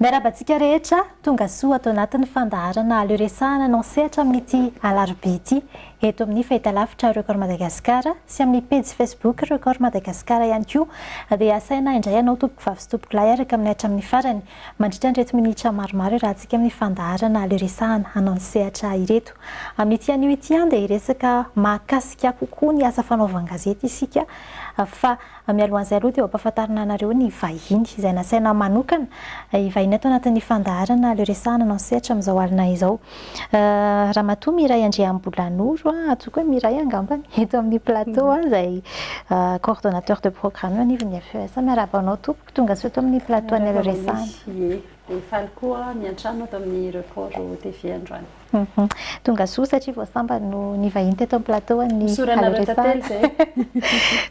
Miarahaba antsika rehetra, tonga soa ato anatin'ny fandaharana Le Resahana no misehatra amin'ity alarobia ity eto amin'ny fahitalavitra Record Madagascar sy amin'ny pejy Facebook Record Madagascar ihany koa dia asaina indray ianao tompoko vavy sy tompoko lahy araka amin'ny hatramin'ny farany mandritra an'ireto minitra maromaro iarahantsika amin'ny fandaharana Le Resahana hanao ny sehatra ireto amin'ity anio ity dia hiresaka mahakasika kokoa ny asa fanaovan-gazety isika fa Mialohan'izay aloha dia ampahafantarina anareo ny vahiny izay nasaina manokana hivahiny ato anatin'ny fandaharana Le Resahana no an-sehatra amin'izao alina izao. Ramatoa Miray Andriambolanoro, antsoiko hoe Miray angamba, eto amin'ny plateau izay coordonnateur de programme eo anivon'ny FES. Miarahaba anao tompoko, tongasoa eto amin'ny plateau an'Le Resahana. Miarahaba anao Miss Shie. Dia faly koa miantrano ato amin'ny Report TV androany. Hum tonga soa satria vao sambany no nivahiny teto amin'ny plateau an'ny Isaoranareo tantely izay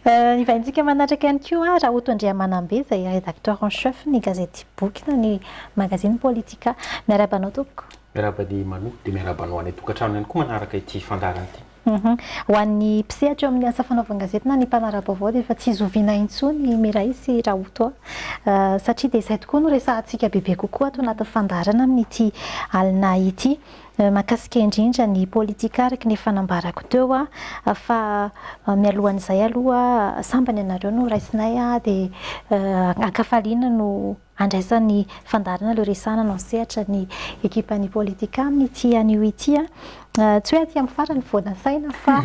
eh. Hivahintsika manatraka ihany koa Rahoto Andriamanambe izay rédacteur en chef ny gazety Boky na ny magazine Politika. Miarahaba anao tompoko. Miarahaba an'i Manu dia miarahaba anao any an-tokantrano ihany koa manaraka ity fandaharana ity. Ho an'ny mpisehatra eo amin'ny asa fanaovan-gazety na ny mpanara-baovao dia efa tsy zoviana intsony i Mireille sy Raotoa satria dia izay tokoa no resahantsika bebe kokoa ato anatin'ny fandaharana amin'ity alina ity. Mankasika indrindra ny politika araka ny efa nambarako teo fa mialohan'izay aloha sambany ianareo no raisinay dia ankafaliana no Andraisan'ny fandaharana ireo resahana no sehatra ny ekipan'ny Politika amin'ity anio ity. Tsy hoe aty amin'ny farany vao nasaina fa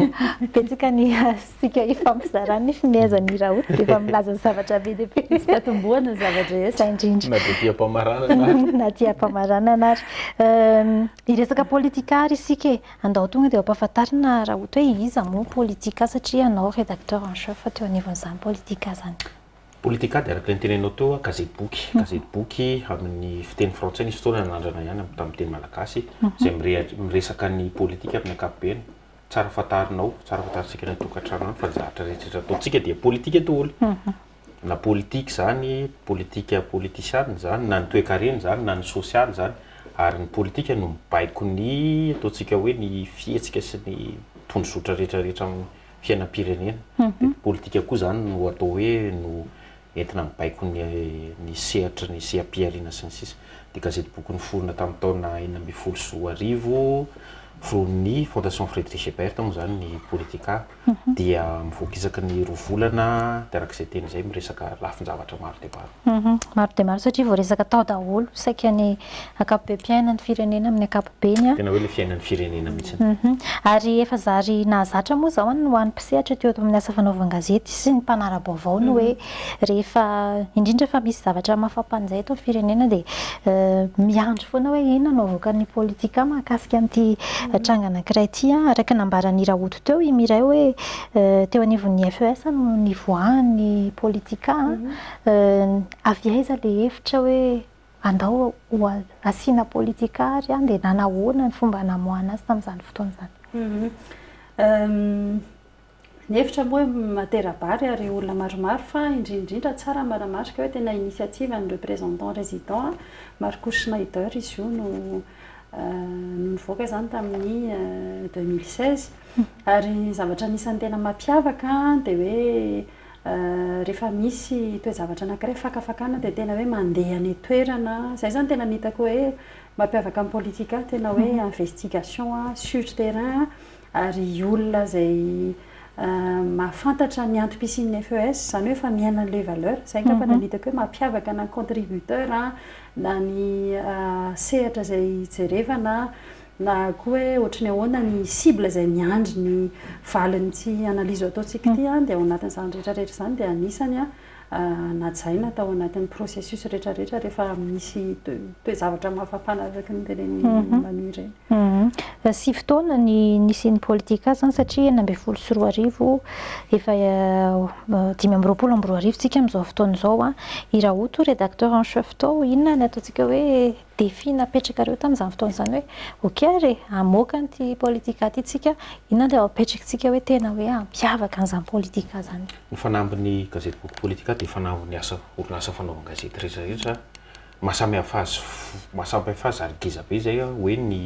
betsaka ny isika ifampizarana ny fimehezan'i Raoul dia efa milaza zavatra be dia be. Tsy tatombohana ny zava-drehetra. Izay indrindra. Na dia diam-pamaranana ary. Na diam-pamaranana ary. Hiresaka Politika ary isika e. Andao tonga dia ampahafantarina Raoul hoe iza moa Politika satria ianao Rédacteur en Chef teo anivon'izany Politika izany. Politikady, araka ny tenenao teo, gazetiboky. Gazetiboky amin'ny fiteny frantsay, nisy fotoana nanandrana ihany amin'ny tamin'ny teny malagasy, izay mirehatra, miresaka ny politika amin'ny ankapobeny. Tsara fantarinao, tsara fantarintsika any an-tokantrano any fa ny zavatra rehetra ataontsika dia politika daholo. Na politika izany, politika politisiana izany, na ny toekarena izany, na ny sosialy izany. Ary ny politika no mibaiko ny, ataontsika hoe ny fihetsika sy ny tondrozotra rehetra rehetra amin'ny. fiainam-pirenena. Dia politika koa izany no atao hoe no entina mibaiko ny ny sehatry ny seha-pihariana sy ny sisa. Dia gazety boky niforona tamin'ny taona enina ambin'ny folo sy roa arivo, foronin'ny Fondation Friedrich Ebert moa izany ny Politica, dia mivoaka isaky ny roa volana, dia araka izay teny izay miresaka lafin-javatra maro dia maro. Humm maro dia maro satria voaresaka tao daholo saika ny ankapobem-piainan'ny firenena amin'ny ankapobeny an! Tena hoe ilay fiainan'ny firenena mihitsy. Humm ary efa zary nahazatra moa izao an ho an'ny mpisehatra teo amin'ny asa fanaovan-gazety sy ny mpanara-baovao ny hoe rehefa indrindra fa misy zavatra mafapanjay eto amin'ny firenena dia miandry foana hoe inona no havoakan'ny politika mahakasika an'ity tranga anankiray ity an! Araka ny nambaran'i Rahoto teo i Mireille hoe teo anivon'ny FES no nivoahan'ny politika an! avy aiza le hevitra hoe andao asiana politika ary an, dia nanahoana ny fomba namoahana azy tamin'izany fotoana izany? Ny hevitra moa matera-bary ary olona maromaro fa indrindra indrindra tsara manamarika hoe tena initiative an'ny représentant résident Marcus Schneider izy io no nivoaka izany tamin'ny deux mille seize ary ny zavatra anisan'ny tena mampiavaka dia hoe Rehefa misy toe-javatra anankiray fakafakana dia tena hoe mandeha any an-toerana, izay izany tena ny hitako hoe mampiavaka ny politika, tena hoe investigation sur terrain, ary olona izay mahafantatra ny antom-pisian'ny FES, izany hoe efa miaina an'ilay valeur, izay angamba no hitako hoe mampiavaka na ny contributeur, na ny sehatra izay jerevana, Na koa hoe ohatry ny ahoana ny cible izay miandry ny valin'ity analyse ataontsika ity an, dia ao anatin'izany rehetra rehetra izany dia anisany najaina tao anatin'ny processus rehetra rehetra rehefa misy toe-javatra mahafampana araka ny tenenin'i Manu ireny. Sivy taona ny nisian'ny politika azy an, satria enina ambin'ny folo sy roa arivo, efa dimy amby roapolo amby roa arivo tsika amin'izao fotoana izao an, i Rahoto redacteur en chef tao, inona ny ataontsika hoe défi napetrakareo tamin'izany fotoana izany hoe ok ary e, hamoaka an'ity politika ity tsika, inona ilay apetrakintsika hoe tena hoe hampiavaka an'izany politika izany? Ny fanambin'ny Gazety Boky Politika dia fanambin'ny asa orinasa fanaovan-gazety rehetra rehetra, mahasamihafa azy mahasamihafa azy ary ngeza be izay hoe ny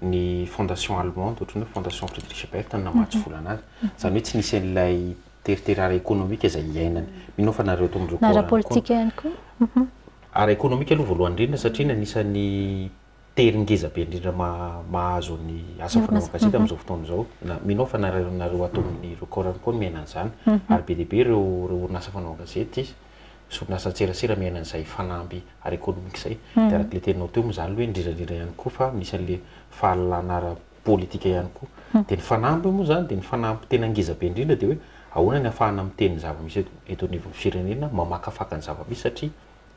ny fondation allemande ohatran'ny hoe fondation Friedrich Ebert no namatsy vola an'azy, izany hoe tsy nisy an'ilay teritery ara-ekonomika izay iainany, mino aho fa nareo tao amin'ireo. Ny ara-politika ihany koa. Ara-ekonomika aloha voalohany indrindra satria ny anisan'ny tery ngeza be indrindra mahazo ny asa fanaovana gazety amin'izao fotoana izao, mino aho fa na nareo ato amin'ny record ihany koa miaina an'izany, ary be dia be ireo orinasa fanaovana gazety sy orinasa an-tserasera miaina an'izay fanamby ara-ekonomika izay. Dia araka ilay teninao teo moa izany aloha hoe indrindra indrindra ihany koa fa misy an'ilay fahalalana ara-, politika ihany koa. Dia ny fanamby moa izany dia ny fanamby tena ngeza be indrindra dia hoe ahoana ny afahana miteny ny zava-misy eto eto anivon'ny firenena, mamakafaka ny zava-misy satria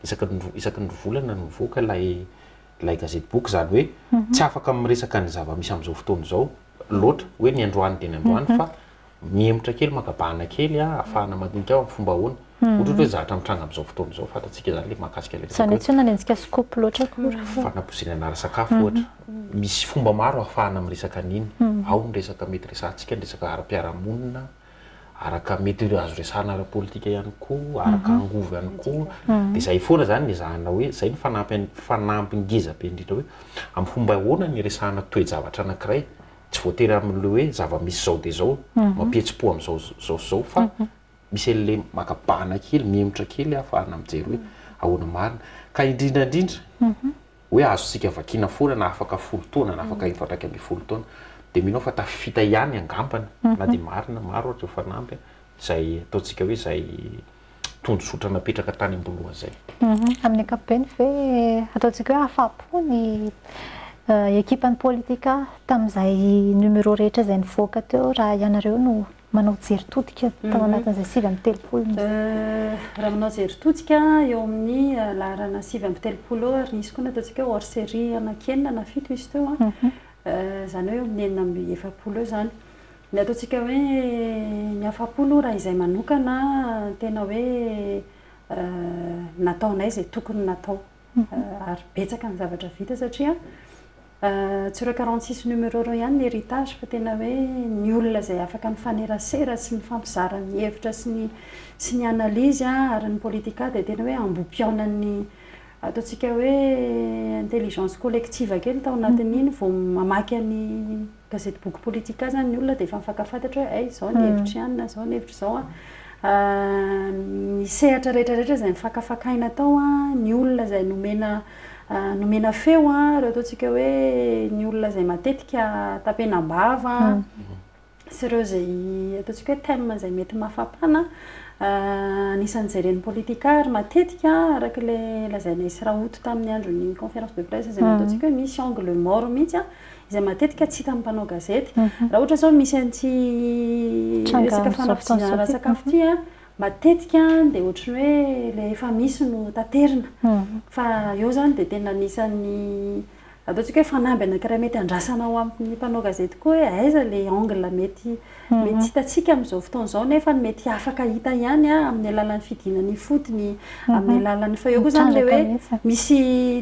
isaka ny roa isaka ny roa volana no mivoaka ilay ilay gazety boky izany hoe tsy afaka miresaka ny zava-misy amin'izao fotoana izao loatra hoe ny androany dia ny androany fa Mihemotra kely, maka bahana kely ahafahana madinika amin'ny fomba ahoana. Ohatr'ohatra hoe zatra mitranga amin'izao fotoana izao, fantatsika izany ilay mahakasika ilay resaka hoe. Izany hoe tsy manenjika scoop loatra akory. Fanabozeriana ara-sakafo ohatra. Misy fomba maro ahafahana miresaka an'iny. Ao ny resaka mety resahantsika, ny resaka ara-piarahamonina, araka mety ireo azo resahana ara-politika ihany koa, araka angovo ihany koa. Dia izay foana izany no ezahana hoe, izay no fanampiny ngeza be indrindra hoe amin'ny fomba ahoana no iresahana toe-javatra anankiray. tsy voatery amin'le hoe zava-misy zao dia zao mampihetsi-po amin'izao zao sy zao fa misy an'le maka bahana kely, mihemotra kely ahafahana mijery hoe ahoana marina. Ka indrindra indrindra hoe azontsika vakiana foana na afaka folo taona na afaka efatra iraika ambin'ny folo taona dia mino aho fa tafita ihany angambany na dia marina maro ary ireo fanamby izay ataontsika hoe izay tondrozotra napetraka tany am-boalohany izay. Amin'ny ankapobeny ve ataontsika hoe afa-po ny ekipan'ny politika tamin'izay numéro rehetra izay nivoaka teo raha ianareo no manao jery todika tao anatin'izay sivy amby telopolo nisy? Raha manao jery todika eo amin'ny laharana sivy amby telopolo eo ary nisy koa ny ataontsika hoe hors série anankienina na fito izy teo an, izany hoe eo amin'ny enina amby efapolo eo izany. Ny ataontsika hoe ny afa-po aloha raha izay manokana tena hoe nataonay izay tokony natao ary betsaka ny zavatra vita satria tsy ireo quarante six numéro ireo ihany ny héritage fa tena hoe ny olona izay afaka nifanerasera sy nifampizara ny hevitra sy ny sy ny analyse ary ny politika dia tena hoe ambohipihaonan'ny ataontsika hoe intelligence collective kely tao anatin'iny vao mamaky an'i Gazety Boky Politika izany ny olona dia efa mifankafantatra hoe hay izao ny hevitry an, na izao ny hevitry izao an. Ny sehatra rehetra rehetra izay nifankafakaina tao an, ny olona izay nomena nomena feo an, ireo ataontsika hoe ny olona izay matetika tapenam-bava an, sy ireo izay ataontsika hoe thèmes izay mety mahafapana an, anisan'ny jeren'ny politika ary matetika araka ilay lazainay sy Rahoto tamin'ny andron'ny conférence de presse izay nataontsika hoe misy angle mort mihitsy an, izay matetika tsy hitan'ny mpanao gazety. Raha ohatra izao misy an'ity resaka fanafodiana ara-tsakafo ity a, matetika dia ohatry ny hoe ilay efa misy no taterina. Fa eo izany dia tena anisan'ny ataontsika hoe fanamby anankiray mety andrasana ho amin'ny mpanao gazety koa hoe aiza ilay angle mety. Mety tsy hitantsika amin'izao fotoana izao nefa ny mety afaka hita ihany amin'ny alalan'ny fidiana ny ifotony, amin'ny alalan'ny, fa eo koa izany ilay hoe misy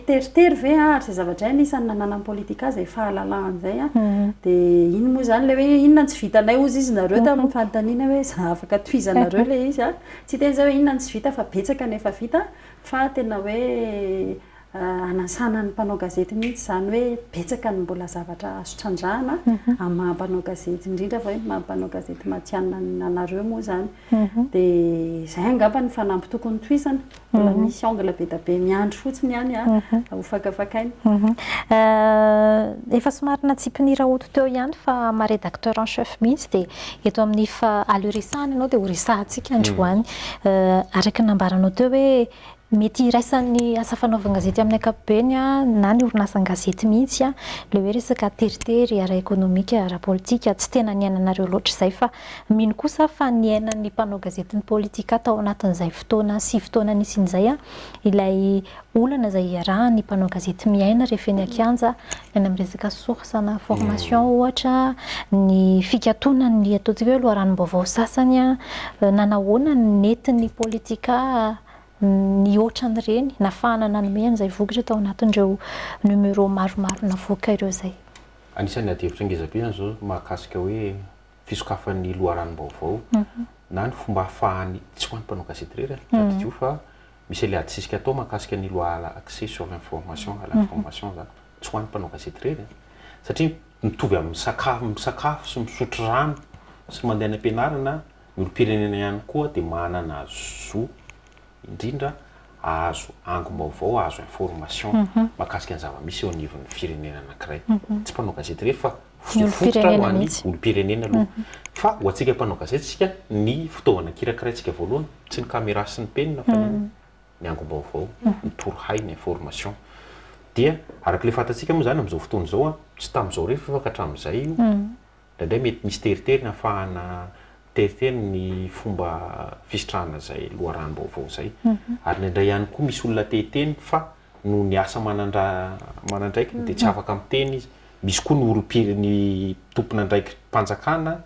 teritery ve ary izay zavatra izay anisan'ny nananan'ny politika izay fahalalahana izay an, dia iny moa izany ilay hoe inona no tsy vitanay hozy izy nareo tamin'ny fanontaniana hoe za afaka tohizanareo ilay izy an, tsy hiteny izay hoe inona no tsy vita fa betsaka ny efa vita fa tena hoe hanasana ny mpanao gazety mihitsy izany hoe betsaka ny mbola zavatra azo trandrahana amin'ny maha mpanao gazety indrindra fa hoe ny maha mpanao gazety matihanina anareo moa izany dia izay angamba ny fanamby tokony tohizana mbola misy angle be dia be miandry fotsiny ihany ho fakafakaina efa somary natsipin'i Raoto teo ihany fa maha rédacteur en chef mihitsy dia eto amin'ny fa aleo resahana ianao dia ho resahantsika androany araka ny nambaranao teo hoe Mety hiraisan'ny asa fanaovan-gazety amin'ny ankapobeny na ny orinasan-gazety mihitsy ilay hoe resaka teritery ara-ekonomika, ara-politika. Tsy tena niainanareo loatra izay fa mino kosa aho fa niainan'ny mpanao gazety ny politika tao anatin'izay fotoana sy fotoana nisian'izay ilay olana izay iarahan'ny mpanao gazety miaina rehefa eny an-kianja, ny any amin'ny resaka source na formation ohatra, ny fikatonan'ny ataontsika hoe loharanom-baovao sasany. Nanahoana ny netin'ny politika? ny hoatran'ireny nafahana nanome an'izay vokatra tao anatin'ireo numéro maromaro navoaka ireo izay. Anisan'ny adihevitra ngezabe ihany izao mahakasika hoe fisokafan'ny loharanom-baovao na ny fomba ahafahan'ny, tsy ho an'ny mpanao gazety irery an, tadidio fa misy ilay adisisika atao mahakasika ny loi à l'accès sur l'information, à l'information izany, tsy ho an'ny mpanao gazety irery an, satria mitovy amin'ny sakafo, misakafo sy misotro rano sy mandeha any am-pianarana olom-pirenena ihany koa dia manana zo indrindra ahazo angom-baovao, ahazo information mahakasika ny zava-misy eo anivon'ny firenena anankiray. Tsy mpanao gazety irery fa fotofototra ho an'ny olom-pirenena aloha. Fa ho antsika mpanao gazety isika, ny fitaovana kirakiraintsika voalohany, tsy ny camera sy ny penina fa ny ny angom-baovao, ny torohay, ny information. Dia araka ilay fantatsika moa izany amin'izao fotoana izao, tsy tamin'izao irery fa efa ka hatramin'izay io, Indraindray mety misy teritery ny hafahana teritery ny fomba fisitrahana izay loharanom-baovao izay. Ary indraindray ihany koa misy olona te hiteny fa noho ny asa manandra manandraikiny dia tsy afaka miteny izy. Misy koa ny orim-pire ny tompon'andraiki-panjakana,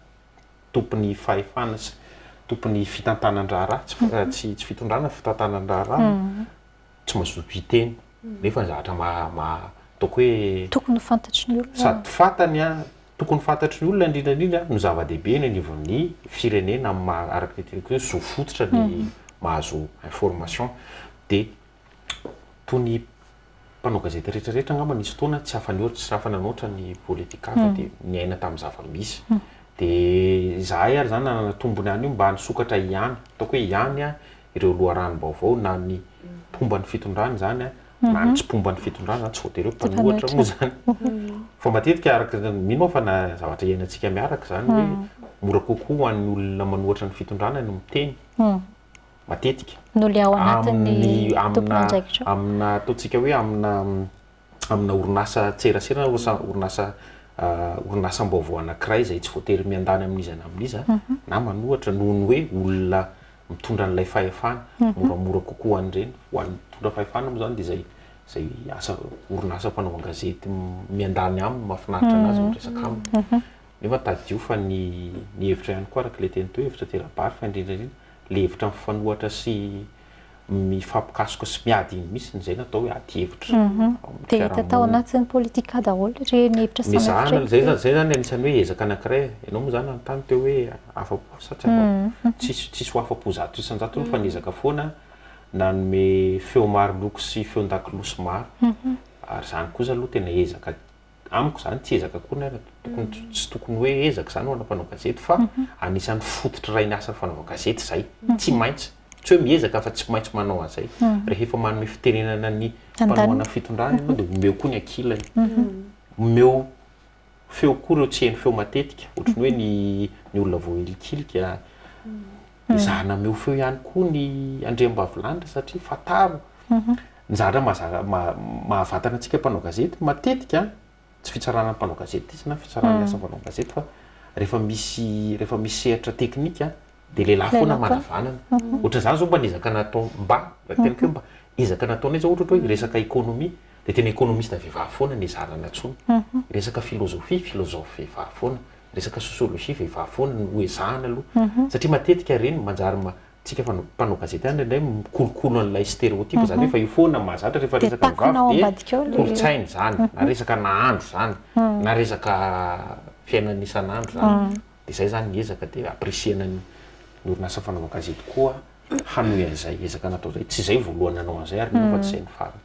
tompon'ny fahefana sy tompon'ny fitantanan-draharaha, tsy tsy fitondrana fitantanan-draharaha. tsy mazoto hiteny nefa ny zavatra ataoko hoe tokony ho fantatry ny olona sady fantany a tokony ho fantatry ny olona indrindra indrindra no zava-dehibe eny anivon'ny firenena amin'ny maha araka ny teniko hoe zo fototra ny mhm. mahazo information dia toy ny mpanao gazety rehetra rehetra angamba nisy fotoana tsy afany ohatra tsy rafana noatra ny politika fa mhm. dia niaina tamin'ny zava-misy mhm. dia izahay ary izany nanana tombony any io mba nisokatra ihany ataoko hoe ihany a ireo loharanom-baovao na ny mpomba ny fitondrana izany na ny tsy mpomba ny fitondrana izany, tsy voatery hoe mpanohatra moa izany fa matetika araka izany, mino aho fa na zavatra iainantsika miaraka izany hoe mora kokoa ho an'ny olona manohatra ny fitondrana ny miteny matetika noho ilay ao anatin'ny tompon'andraikitra, aminà, aminà, ataontsika hoe aminà amina orinasa tserasera na orinasa orinasam-baovao anankiray izay tsy voatery miandany amin'iza na amin'iza na manohatra noho ny hoe olona mitondra an'ilay fahefana, moramora kokoa an'ireny. Ho an'ny mitondra fahefana moa izany dia izay izay asa orinasa mpanao an-gazety miandany aminy, mahafinaritra an'azy ny miresaka aminy. Nefa tadidio fa ny ny hevitra ihany koa araka ilay teny teo, hevitra tera-bary fa indrindra indrindra ilay hevitra mifanohatra sy mifampikasoka sy miady iny mihitsy izay natao hoe ady hevitra ao amin'ny fiarahamonina. Dia hita tao anatin'ny politika daholo ireny hevitra samihafa ireny. Mizahana an'izay izany, izay izany anisan'ny hoe ezaka anankiray. Ianao moa izany nanontany teo hoe afa-po sa tsy afa-po. Tsisy tsisy ho afa-po zato isan-jatony fa niezaka foana nanome feo maro loko sy feon-dakolosy maro ary izany kosa aloha tena ezaka amiko izany tsy ezaka akory na tokony tsy tokony hoe ezaka izany ho ana mpanao gazety fa anisan'ny fototry ray ny asa ny fanaovana gazety izay tsy maintsy tsy hoe miezaka fa tsy maintsy manao an'izay rehefa manome fitenenana ny mpanohana fitondrana ianao dia omeo koa ny ankilany omeo feo koa ireo tsy heno feo matetika ohatran'ny hoe ny ny olona voahilikilika Mizara nameho feo ihany koa ny andriambavilanitra satria fantaro ny zavatra mahavatana antsika mpanao gazety matetika, tsy fitsarana ny mpanao gazety izy na fitsaran'ny asa mpanao gazety fa rehefa misy rehefa misy sehatra teknika dia lehilahy foana manavanana. Ohatran'izany izao mba niezaka natao mba raha hiteny koa mba ezaka nataonay izao ohatra hoe resaka économie dia tena économiste vehivavy foana no ezahana nantsoina, resaka philosophie, philosophe vehivavy foana. resaka sociologie vehivavy foana no hoezahana aloha satria matetika ireny no manjary antsika mpanao gazety ihany indraindray mikolokolo an'ilay stéréotype izany hoe efa io foana no mahazatra rehefa resaka vehivavy dia kolontsaina izany na resaka nahandro izany na resaka fiainana isan'andro izany dia izay izany ny ezaka dia apprécier-na ny orinasa fanaovana gazety koa hanohy an'izay ezaka natao izay. Tsy izay voalohany nanao an'izay ary mino aho fa tsy izay ny farany.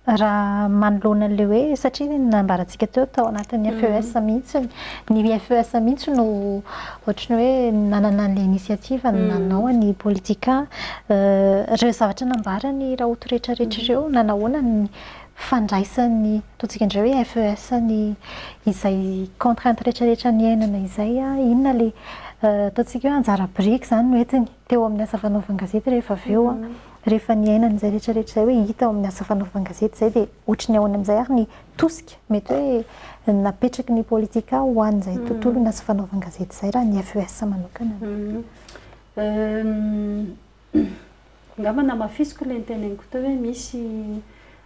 Raha manoloana an'ilay hoe, satria nambarantsika teo tao anatin'ny FES mihitsy, ny FES mihitsy no ohatry ny hoe nanana an'ilay initiative nanao an'i Politika. Ireo zavatra nambaran'i Rahoto rehetrarehetra ireo, na nahoana ny fandraisan'ny, ataontsika indray hoe FES, ny izay contraintes rehetrarehetra niainana izay, inona ilay ataontsika hoe anjara biriky izany no entiny teo amin'ny asa fanaovan-gazety rehefa avy eo. Rehefa niainana izay rehetrarehetra izay hoe hita ao amin'ny asa fanaovan-gazety izay dia hoatry ny ahoana amin'izay ary ny tosika mety hoe napetraky ny Politika ho an'izay tontolon'asa fanaovan-gazety izay raha ny FES manokana? Angamba namafisiko ilay noteneniko teo hoe misy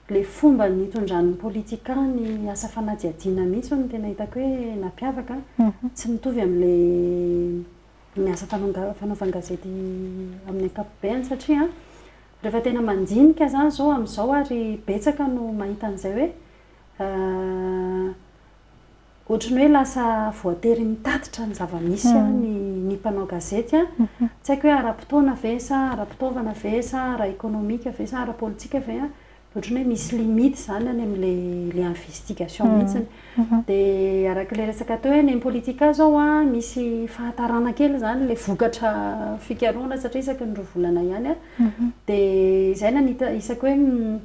ilay fomba nitondran'ny politikan ny asa fanadihadiana mihitsy hono no tena hitako hoe nampiavaka. Tsy mitovy amin'ilay ny asa fanaovan-gazety amin'ny ankapobeny satria rehefa tena mandinika izany izao amin'izao ary betsaka no mahita an'izay hoe Ohatry ny hoe lasa voatery mitatitra ny zava-misy ny ny mpanao gazety a. Tsy haiko hoe ara-potoana ve sa ara-pitaovana ve sa ara-ekonomika ve sa ara-politika ve a, ohatry ny hoe misy limite izany any amin'ilay ilay investigation mihitsiny. Dia araka ilay resaka teo hoe ny Impolitica izao a, misy fahatarana kely izany ilay vokatra fikarohana satria isaky ny roa volana ihany a. Dia izay no anita-, isaky hoe.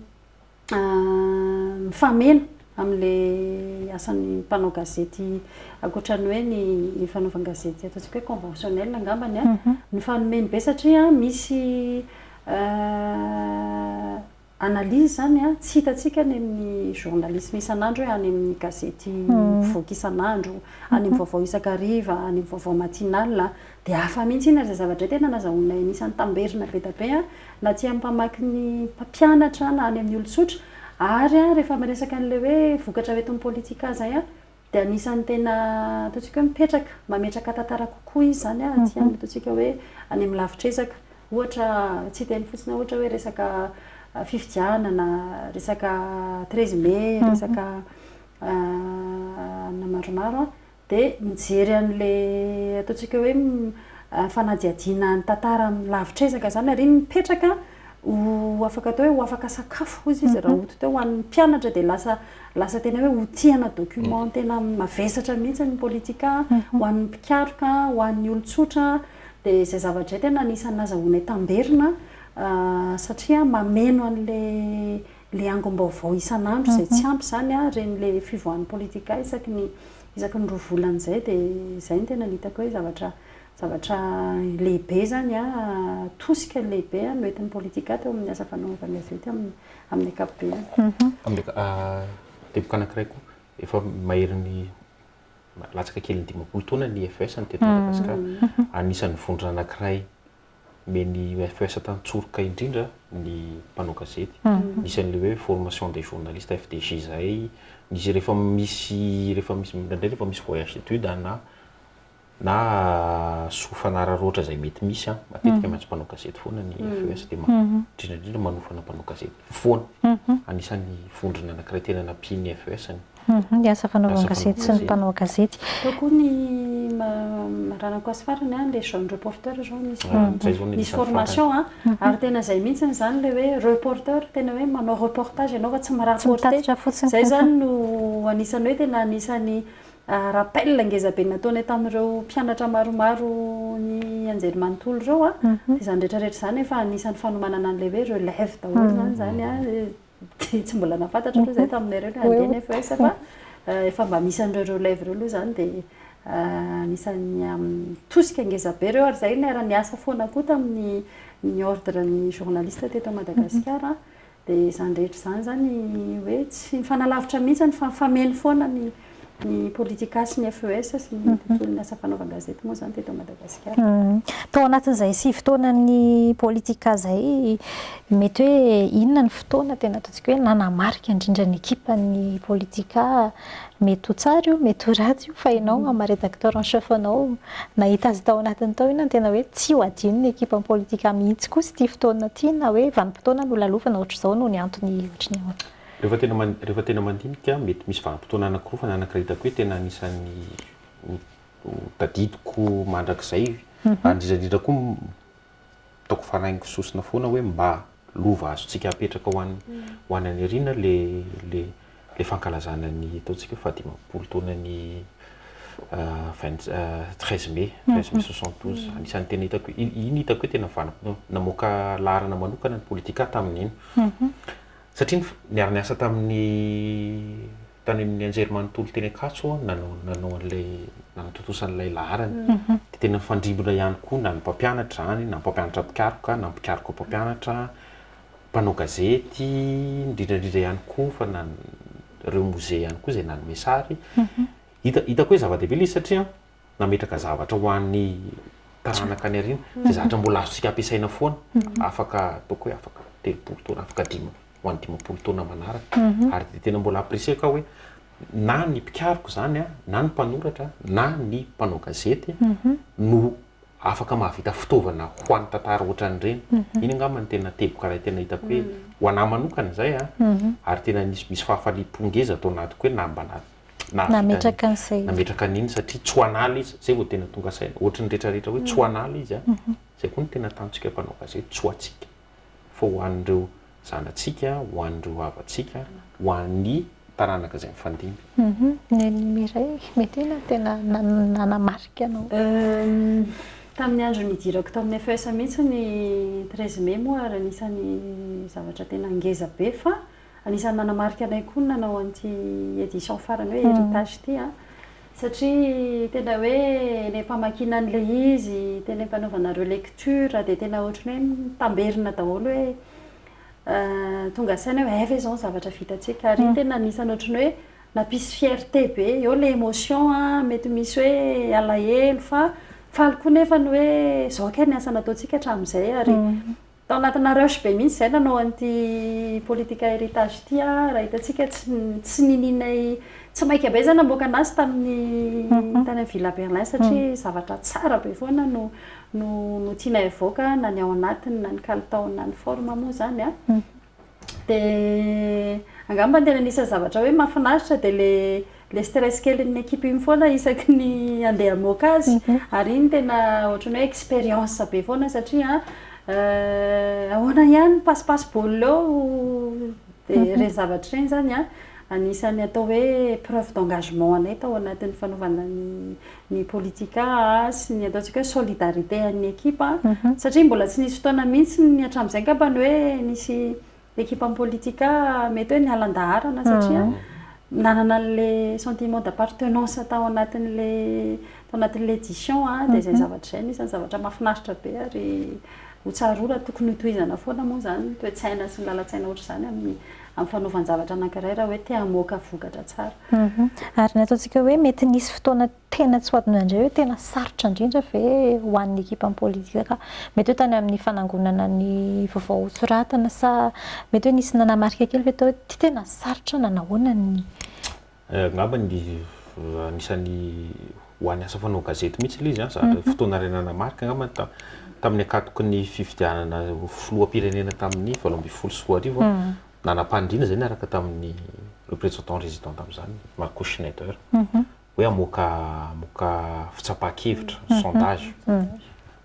mifameno amin'ilay asan'ny mpanao gazety ankoatra ny hoe ny fanaovan-gazety ataontsika hoe conventionnel angambany an, ny fanomeny be satria misy analyse izany an, tsy hitantsika any amin'ny journalisme isan'andro hoe any amin'ny gazety mpivoaka isan'andro, any amin'ny vaovao isan-kariva, any amin'ny vaovao matinal, Dia hafa mihitsy iny ary izay zavatra tena nazahoanay anisan'ny tamberina be dia be an, na tsy amin'ny mpamaky ny mpampianatra na any amin'ny olon-tsotra, ary an, rehefa miresaka an'ilay hoe vokatra ho entin'ny politika izay an, dia anisan'ny tena ataontsika hoe mipetraka, mametraka tantara kokoa izy izany an, tsy any ataontsika hoe any amin'ny lavitr'ezaka. Ohatra, tsy hiteny fotsiny aho ohatra hoe resaka fifidianana, resaka treize mai, resaka anona maromaro an. Dia mijery an'ilay ataontsika hoe fanadihadiana ny tantara amin'ny lavitr'ezaka izany ary iny mipetraka ho afaka atao hoe ho afaka sakafo hozy izy raha ohatra hoe ho an'ny mpianatra dia lasa lasa tena hoe outil ana document tena mavesatra mihitsy ny politika ho an'ny mpikaroka, ho an'ny olon-tsotra. Dia izay zavatra izay tena anisan'ny nazahoanay tamberina satria mameno an'ilay le angom-baovao isan'andro izay tsy ampy izany a, reny le fivoahan'ny politika isaky ny isaky ny roa volana izay dia izay no tena hitako hoe zavatra zavatra lehibe izany a, tosika lehibe a no entin'ny politika teo amin'ny asa fanaovan'ny gazety amin'ny amin'ny ankapobeny. Teboka anankiray koa, efa maherin'ny latsaka kely ny dimampolo taona ny FES teto Madagasikara, anisan'ny vondrona anankiray. Omeny FES tany tsoroka indrindra ny mpanao gazety. Nisy an'ilay hoe formation des journalistes FDJ izay, nisy rehefa misy rehefa misy indraindray rehefa misy voyage d'études na na soa fanararaotra izay mety misy an, matetika maintsy mpanao gazety foana ny FES dia indrindra indrindra manofana mpanao gazety foana. Anisan'ny vondrona anankiray tena nampian'ny FES ny. Ny asa fanaovana gazety sy ny mpanao gazety. Tao koa ny maranako azy farany an, ilay jeune reporter zao misy formation an, ary tena izay mihintsy izany ilay hoe reporter tena hoe manao reportage ianao fa tsy mi-rapporter, izay izany no anisany hoe tena anisany rappel ngeza be nataony tamin'ireo mpianatra maromaro ny anjerimanontolo ireo an, dia izany rehetra rehetra izany efa anisany fanomanana an'ilay hoe relève daholo izany izany an. dia tsy mbola nahafantatra aloha izahay taminareo ilay handeha nefa aiza fa efa mba misy an'ireo relève ireo aloha izany dia anisan'ny tosika ngeza be ireo ary izahay niara-niasa foana koa tamin'ny ny ordre ny journaliste teto Madagasikara dia izany rehetra izany izany hoe tsy nifanalavitra mihitsy fa nifameno foana ny Ny Politika sy ny FES sy ny tontolon'ny asa fanaovan-gazety moa izany teto Madagasikara. Tao anatin'izay sivy taonan'ny Politika izay, mety hoe inona ny fotoana tena ataontsika hoe nanamarika indrindra ny ekipan'ny Politika? Mety ho tsara io, mety ho ratsy io fa ianao amin'ny maha Rédacteur en Chef anao nahita azy tao anatiny tao, inona no tena hoe tsy ho adinon'ny ekipan'ny Politika mihitsy kosa ity fotoana ity na hoe vanim-potoana nolalovana ohatr'izao no ny antony ohatry ny ahoana? Rehefa tena man, rehefa tena mandinika, mety misy vanim-potoana anankiroa fa ny anankiray hitako hoe tena anisan'ny ho, ho tadidiko mandrakizay, ary indrindra indrindra koa hitako faraingo sosona foana hoe mba lova azontsika apetraka ho an'ny, ho any aoriana ilay, ilay, ilay fankalazana ny ataontsika hoe fahadimampolo taonan'ny vingt, treize mai, treize mai soixante douze, anisan'ny tena hitako hoe, iny hitako hoe tena vanim-potoana, namoaka laharana manokana ny Politika tamin'iny. Satria niara-niasa tamin'ny tany amin'ny anjerimanontolo teny Ankatso aho nanao nanao an'ilay nanatontosa an'ilay laharana. Dia tena nifandrimbona ihany koa na ny mpampianatra izany, na ny mpampianatra mpikaroka, na ny mpikaroka mpampianatra, mpanao gazety, indrindra indrindra ihany koa fa na ny ireo mozea ihany koa izay nanome sary. Hita hitako hoe zava-dehibe ilay izy satria nametraka zavatra ho an'ny taranaka any aoriana, izay zavatra mbola azontsika ampiasaina foana, afaka ataoko hoe afaka telopolo taona, afaka dima- ho an'ny dimampolo taona manaraka. Ary dia tena mbola apprécier-ko aho hoe na ny mpikaroka izany, na ny mpanoratra, na ny mpanao gazety no afaka mahavita fitaovana ho an'ny tantara ohatran'ireny. Iny angamba no tena teboka iray tena hitako hoe ho an'ahy manokana izay, ary tena misy misy fahafaliam-po ngeza ato anatiko hoe na mba na nametraka an'izay izy. Nametraka an'iny satria tsy ho an'ala izy, izay vao tena tonga saina. Ohatry ny rehetrarehetra hoe tsy ho an'ala izy an! Izay koa no tena tanjontsika mpanao gazety, tsy ho antsika fa ho an'ireo zanatsika, ho an'ireo havantsika, ho an'ny taranaka izay mifandimby. Neny Mireille, mety io no tena nanamarika anao. Tamin'ny andro nidirako tamin'ny FES mihitsy ny treize mai moa ary anisan'ny zavatra tena ngezabe fa Anisan'ny nanamarika anay koa ny nanao an'ity édition farany hoe héritage ity an! satria tena hoe ilay mpamakiana an'ilay izy, tena ampanaovana relecture dia tena ohatran'ny hoe mitamberina daholo hoe tonga saina hoe hay ve izao ny zavatra vitantsika? ary iny tena anisan'ny ohatran'ny hoe nampisy fierté be, eo ilay émotion an, mety misy hoe alahelo fa faly koa nefa ny hoe izao kay ny asa nataontsika hatramin'izay ary Tao anatina rush be mihitsy izay nanao an'ity politika héritage ity an, raha hitantsika tsy tsy ninianay tsy maika be izay namoaka anazy tamin'ny tany amin'ny villa Berlin satria zavatra tsara be foana no no no tianay hivoaka na ny ao anatiny na ny kalitaony na ny forme moa izany an. Dia angamba ny tena anisan'ny zavatra hoe mahafinaritra dia ilay ilay stress kelin'ny équipe iny foana isaky ny handeha hamoaka azy. Ary iny tena ohatran'ny hoe expérience be foana satria ahoana ihany ny passe-passe ball eo? Dia ireny zavatra ireny izany an, anisan'ny atao hoe preuve d'engagement anay tao anatin'ny fanaovana ny. ny politika sy ny ataontsika hoe solidarité an'ny ekipa satria mbola tsy nisy fotoana mihitsy ny hatramin'izay angamba ny hoe nisy ekipam politika mety hoe niala an-daharana satria nanana an'ilay sentiment d'appartenance tao anatin'ilay tao anatin'ilay édition dia izay zavatra izay no isan'ny zavatra mahafinaritra be ary ho tsaroana tokony ho tohizana foana moa izany ny toe-tsaina sy ny lalan-tsaina ohatr'izany amin'ny amin'ny fanaovan-javatra anankiray raha hoe te hamoaka vokatra tsara. Ary ny ataontsika hoe mety nisy fotoana tena tsy ho adinao indray hoe tena sarotra indrindra ve ho an'ny ekipam politika? Mety hoe tany amin'ny fanangonana ny vaovao ho soratana sa mety hoe nisy nanamarika kely ve tao hoe ity tena sarotra na nahoana ny. Angamba anisan'ny ho an'ny asa fanao gazety mihitsy ilay izy, zatra fotoana iray nanamarika angamba ny tamin'ny ankatoky ny fifidianana ho filoham-pirenena tamin'ny valo ambin'ny folo sy roa arivo, nanam-paniriana izay niaraka tamin'ny représentant résident tamin'izany Marco Schneider hoe hamoaka fitsapan-kevitra, sondage.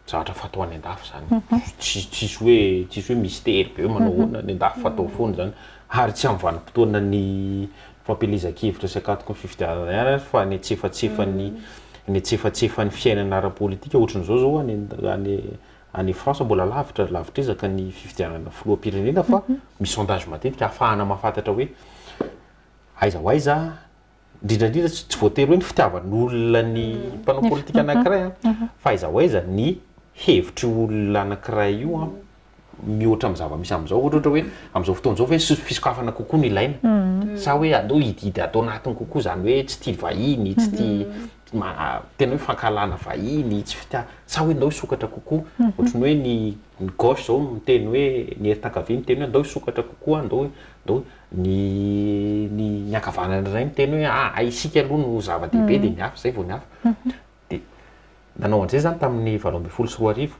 Zatra fatao any an-dafy zany, tsy tsisy hoe tsisy hoe mistery be hoe manao ahoana, any an-dafy fatao foana zany, ary tsy amin'ny vanim-potoana ny fampielezan-kevitra sy akatoky ny fifidianana ihany ary fa ny antsefatsefan'ny ny antsefatsefan'ny fiainana ara-politika ohatry ny izao zao any any any France mbola lavitra lavitr'ezaka ny fifidianana filoham-pirenena fa misy sondage matetika ahafahana mahafantatra hoe aiza ho aiza indrindra indrindra tsy tsy voatery hoe ny fitiavan'olona ny mpanao politika anankiray an, fa aiza ho aiza ny hevitr'io olona anankiray io an, mihoatra amin'ny zava-misy amin'izao, ohatra ohatra hoe amin'izao fotoana izao ve so- fisokafana kokoa no ilaina, sa hoe aleo hididy ato anatiny kokoa izany hoe tsy tia vahiny, tsy tia ma- tena hoe fankahalana vahiny, tsy fitia- sa hoe ndao hisokatra kokoa, ohatra ny hoe ny ny gauche izao miteny hoe ny heritakavia miteny hoe ndao hisokatra kokoa, ndao ndao Ny ny ny ankavanany indray miteny hoe a a isika aloha no zava-dehibe dia ny hafa izay vao ny hafa. Dia nanao an'izay izany tamin'ny valo ambin'ny folo sy roa arivo.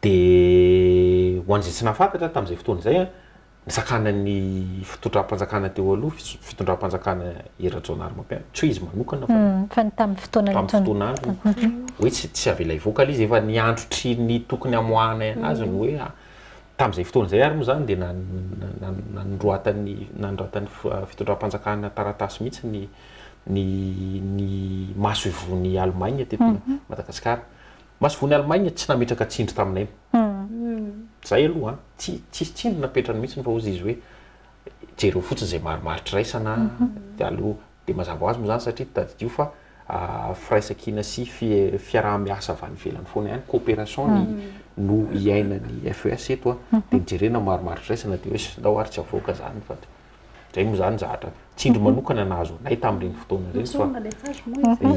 Dia ho an'izay tsy nahafantatra tamin'izay fotoana izay a, nisakanan'ny fitondram-panjakana teo aloha, fitso- fitondram-panjakana i Rajaonarimampianina, tsy hoe izy manokana fa Fa ny tamin'ny fotoana tamin'ny nitondra- fotoana androny, hoe tsy tsy avela hivoaka ilay izy, efa niandry try ny tokony hamoahana azy ny hoe a Tamin'izay fotoana izay ary moa izany dia nanoratan'ny fitondram-panjakana taratasy mihitsy ny ny masoivohon'i Allemagne teto Madagasikara. Masoivohon'i Allemagne tsy nametraka tsindry taminay. Izay aloha an! Tsisy tsindry napetrany mihitsy fa hozy izy hoe jereo fotsiny izay marimaritra iraisana dia aleo Dia mazava ho azy moa izany satria tadidio fa firaisankina sy fiaraha-miasa avy any ivelany foana ihany, coopération, ny no iainan'ny FES eto a. Dia ny jerena maromaro firaisana dia hoe sy ndao ary tsy avoaka izany fa dia izay moa izany zahatra. Tsindry manokana nahazo anay tamin'ireny fotoana ireny fa,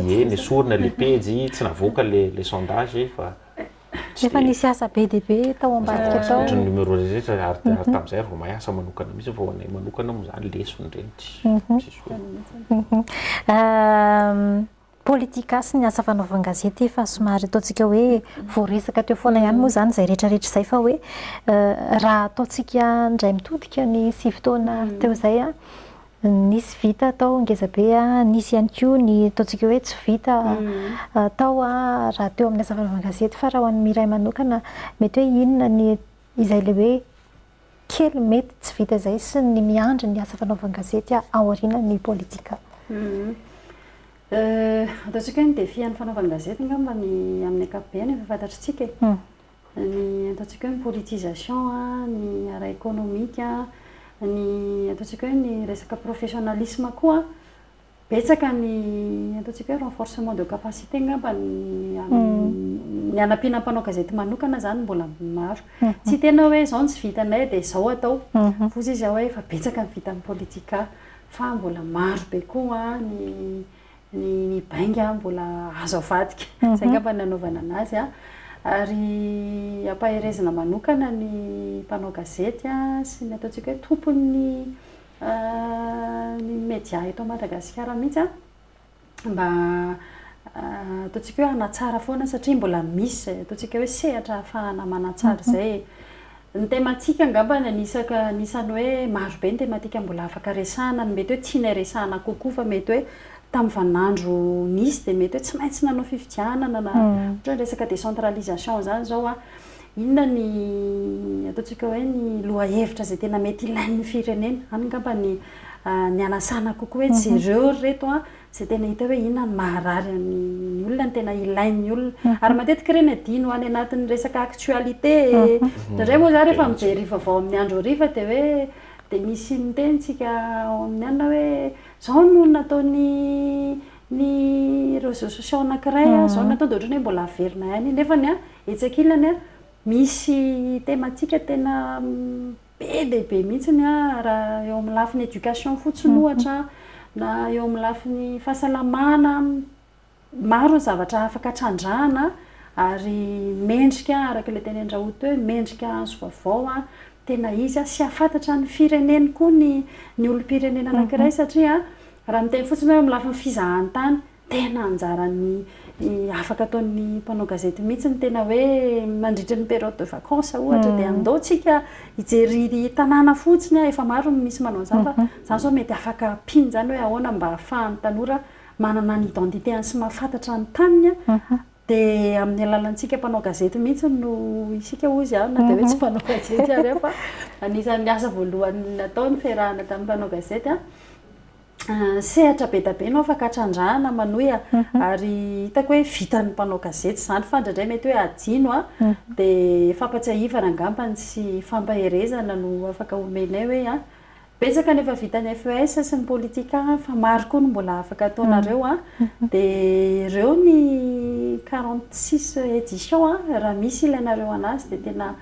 ie, nesorina ilay pejy, tsy navoaka ilay sondage fa. Tsy Efa dia- nisy asa be dia be tao ambadika Tsy tao. ny numéro rehetra ary ary mhm. tamin'izay ary vao mahay asa manokana mihitsy fa ho anay manokana moa izany lesona ireny tsy mhm. tsisy hoe mhm. ehm, politika sy ny asa fanaovan-gazety efa somary ataontsika hoe voaresaka teo foana ihany moa izany izay rehetrarehetra izay fa hoe eh, raha ataontsika indray mitodika ny sivy taona teo izay a Nisy vita tao ngezabe a, nisy ihany koa ny ataontsika hoe tsy vita tao raha teo amin'ny asa fanaovan-gazety fa raha ho an'ny iray manokana mety hoe inona ny izay ilay hoe kely mety tsy vita izay sy ny miandry ny asa fanaovan-gazety aorianan'ny politika? Ataontsika hoe ny défi an'ny fanaovan-gazety angamba ny amin'ny ankapobeny efa fantatritsika e. ny ataontsika hoe politisation, ny ara ekonomika, ny ataontsika hoe ny resaka professionnalisme koa betsaka ny ataontsika hoe renforcement de capacité angamba ny hanampiana mpanao gazety manokana izany mbola maro. Tsy tena hoe izao no tsy vitanay dia izao atao foza izy hoe efa betsaka ny vitan'ny politika fa mbola maro be koa ny ny ny bainga mbola azo avadika zay ngamba ny nanaovana anazy a ary ampaherezina manokana ny mpanao gazety a sy ny ataontsika hoe tompon'ny ny media eto Madagasikara mihitsy a mba ataontsika hoe hanatsara foana satria mbola misy izay ataontsika hoe sehatra ahafahana manatsara izay e Ny tematika angamba ny anisaka anisan'ny hoe marobe ny tematika mbola afaka resahana no mety hoe tianay resahana kokoa fa mety hoe tamin'ny vaninandro nisy dia mety hoe tsy maintsy nanao fifidianana na ohatra hoe ny resaka décentralisation izany izao a, inona ny ataontsika hoe ny lohahevitra izay tena mety ilain'ny firenena, any angamba ny nianasana kokoa hoe jereo ry reto a, izay tena hita hoe inona no maharary an'ny olona, ny tena ilain'ny olona. Ary matetika ireny adino any anatin'ny resaka actualité. Indraindray moa izaho rehefa mijery vaovao amin'ny andro hariva dia hoe dia misy miteny isika ao amin'ny alina hoe izao no nataon'ny ny réseaux sociaux anankiray, izao no nataony dia ohatran'ny hoe mbola averina ihany iny. Nefany an, etsy ankilany an, misy thématique tena be dia be mihitsy ny raha eo amin'ny lafiny éducation fotsiny ohatra, na eo amin'ny lafiny fahasalamana, maro ny zavatra afaka trandrahana ary mendrika araka ilay tenenin-dRaoul teo hoe mendrika hazo vaovao tena izy sy hahafantatra ny fireneny koa ny olom-pirenena anankiray satria raha miteny fotsiny hoe eo amin'ny lafiny fizahan-tany, tena anjaran'ny afaka ataon'ny mpanao gazety mihitsy ny tena hoe mandritra ny période de vacances ohatra dia andao tsika hijery tanàna fotsiny efa maro ny misy manao an'izany fa zany zao mety afaka ampiany zany hoe ahoana mba ahafahan'ny tanora manana ny identité-ny sy mahafantatra ny taniny dia amin'ny alalantsika mpanao gazety mihitsy no isika hozy aho na dia hoe tsy mpanao gazety ary aho fa anisan'ny asa voalohany natao ny fiarahana tamin'ny mpanao gazety Sehatra be dia be no afaka hatrandrahana Manoia ary hitako hoe vitan'ny mpanao gazety izany fa indraindray mety hoe hadino an! dia fampatsiahivana angambany sy fampaherezana no afaka omenay hoe an! betsaka ny efa vitan'ny FES sy ny Politika an! fa maro koa no mbola afaka ataonareo an! dia ireo ny quarante six éditions an! raha misy ilainareo anazy dia tena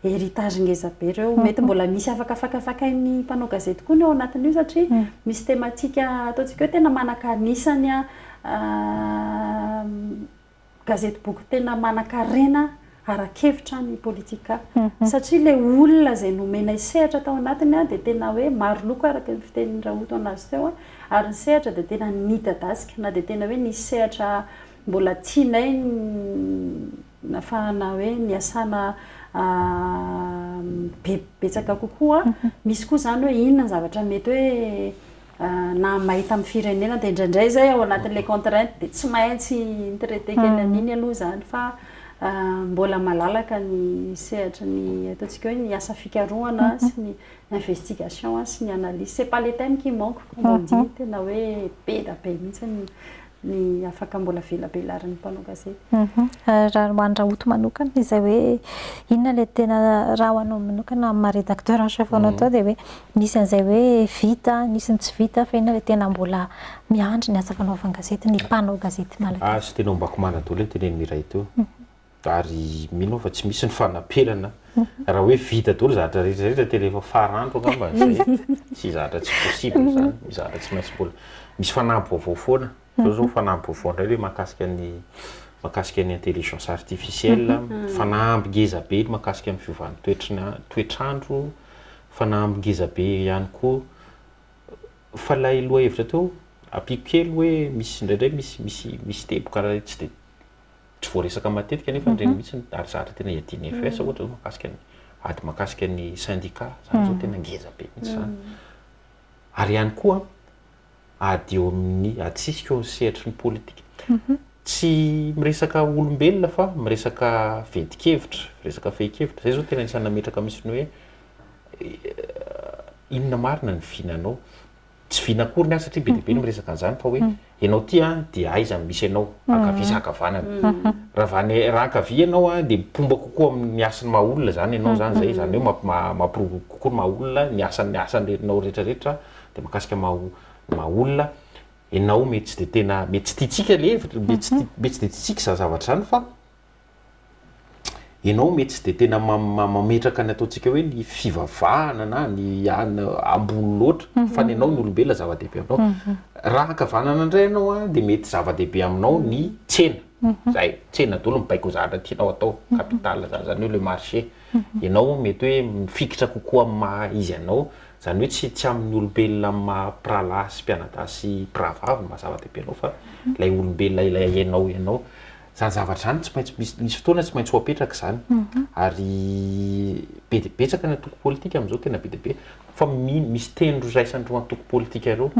héritage ngeza be ireo. Mety mbola misy afaka fakafakain'ny mpanao gazety koa ny ao anatin'io satria misy thématique ataontsika hoe tena manaka anisan'ny gazety boky tena manankarena ara-kevitra ny politika satria ilay olona izay nomenay sehatra tao anatiny dia tena hoe maro loko araka ny fitenin'i Raoto an'azy teo ary ny sehatra dia tena nidadasika na dia tena hoe nisy sehatra mbola tianay nafahana hoe niasana be betsaka kokoa, misy koa izany hoe inona ny zavatra mety hoe nahamay tamin'ny firenena, dia indraindray izay ao anatin'ilay contrainte dia tsy maintsy ni-traiter kely an'iny aloha izany fa mbola malalaka ny sehatry ny ataontsika hoe ny asa fikarohana sy ny investigation sy ny analyse, c'est pas le thème qui manque comme on dit, tena hoe be dia be mihintsy ny ny afaka mbola velabelarin'ny mpanao gazety. Mhm. Raha ho an'i Rahoto manokana, izay hoe inona ilay tena raha ho anao manokana amin'ny maha rédacteur en chef anao mhm. tao dia hoe nisy an'izay hoe vita, nisy ny tsy vita fa inona ilay tena mbola miandry ny asa fanaovan-gazety, ny mpanao gazety malagasy. Ah, sy tena ombako manadolo io teneniny iray teo. Mhm. ary mino aho fa tsy misy ny fanaperana raha hoe vita daholo zavatra rehetra rehetra tena efa farandro angamba zay tsy zavatra tsy possible zany misy zavatra tsy maintsy mbola misy fanampy vaovao foana zao zao fanampy vaovao indray hoe mahakasika ny mahakasika ny intelligence artificielle fanampy ngeza be ny mahakasika ny fiovan'ny toetry ny toetr'andro fanampy ngeza be ihany koa fa lay lohahevitra teo ampiako kely hoe misy indraindray misy misy misy teboka raha tsy de tsy voaresaka matetika nefa ireny mihitsy ary zatra tena iadian'ny FES ohatra zao mahakasika ny ady mahakasika ny syndicat zany zao tena ngeza be mihitsy zany ary ihany koa ady eo amin'ny ady sisika eo sehatry ny politika mhm. tsy miresaka olombelona fa miresaka vedikevitra miresaka fehikevitra zay zao tena isan'ny nametraka misy ny hoe eh, inona marina ny vinanao Tsy vina akory ny ahy satria be dia be ny miresaka an'izany fa hoe ianao ity an dia aiza no misy anao, ankavia sa ankavanana. Raha avy any raha ankavia ianao an dia mpomba kokoa amin'ny hasin'ny maha olona izany ianao izany izay, izany hoe mampi- ma- mampiroborobo kokoa ny maha olona, ny hasan- ny hasan- ianao rehetra rehetra dia mahakasika ny maha o- ny maha olona. Ianao mety tsy dia tena, mety tsy tiantsika ilay hevitra, mety tsy ti- mety tsy dia tiantsika izany zavatra izany fa. ianao mety tsy dia tena mametraka ny ataontsika hoe ny fivavahana na ny any ambony loatra fa ny anao ny olombelona zava-dehibe aminao. Mhm. Raha ankavanana indray ianao a dia mety zava-dehibe aminao ny tsena. Mhm. Zay, tsena daholo mibaiko zavatra tianao atao, mhm. capital zany, zany hoe le marché. Ianao mety hoe mifikitra kokoa amin'ny maha izy anao, zany hoe tsy tsy amin'ny olombelona amin'ny maha mpirahalahy sy mpianadahy sy mpirahavavy no maha zava-dehibe anao fa ilay olombelona ilay ianao ianao. Izany zavatra izany tsy maintsy misy, misy fotoana tsy maintsy ho apetraka izany. Ary be dia betsaka ny antoko politika amin'izao, tena be dia be. Fa mi- misy teny raisan'ireo antoko politika ireo.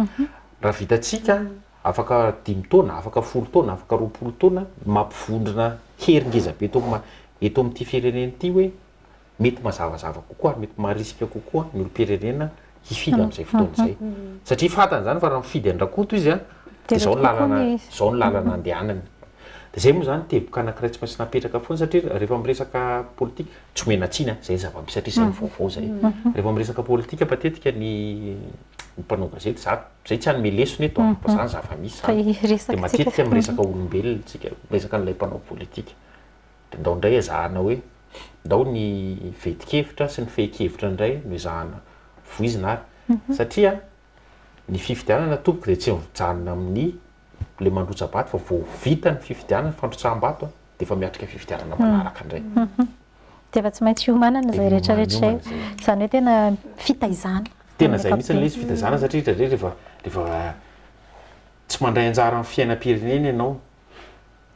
Raha vitantsika, afaka dimy taona, afaka folo taona, afaka roapolo taona, mampivondrona hery ngeza be eto am- eto amin'ity firenena ity hoe mety mazavazava kokoa ary mety marisika kokoa ny olom-pirenena hifidy amin'izay fotoana izay. Satria fantany izany fa raha mifidy an-dRakoto izy an, dia izao ny lalana, izao ny lalana andehanany. Dia izay moa izany teboka anankiray tsy maintsy napetraka foana satria rehefa miresaka politika, tsy omena tsiny an, izay ny zava-misy satria izay ny vaovao izay. Rehefa miresaka politika matetika ny ny mpanao gazety, za izay tsy hanome lesona eto an, fa izany zava-misy izany. Dia matetika miresaka olombelona isika, miresaka an'ilay mpanao politika. dia ndao indray ezahana hoe ndao ny veti-kevitra sy ny fehin-kevitra indray no ezahana voizina ary satria ny fifidianana tompoko dia tsy mijanona amin'ny ilay mandrotsa-bato fa vao vita ny fifidianana, fandrotsaham-bato a, dia efa miatrika fifidianana manaraka indray. Dia efa tsy maintsy hiomanana izay rehetra rehetra izay. Izany hoe tena fitaizana. Tena izay mihitsy ilay izy, fitaizana satria indraindray rehefa rehefa tsy mandray anjara amin'ny fiainam-pirenena ianao,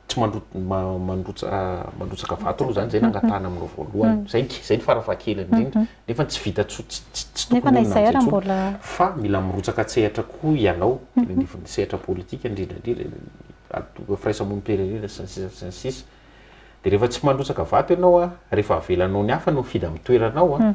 tsy mandrotsaka vato aloha zany izay nangatahana aminao voalohany zay izay ny farafahakeliny indrindra nefa tsy vita tsy tokony amin'izay tsony fa mila mirotsaka tsehatra koa ianao ny sehatra politika indrindra indrindra firaisamon'ny mpirenena sy ny sisa sy ny sisa dia rehefa tsy mandrotsaka vato ianao an rehefa avelanao ny hafa no mifidy amin'ny toeranao an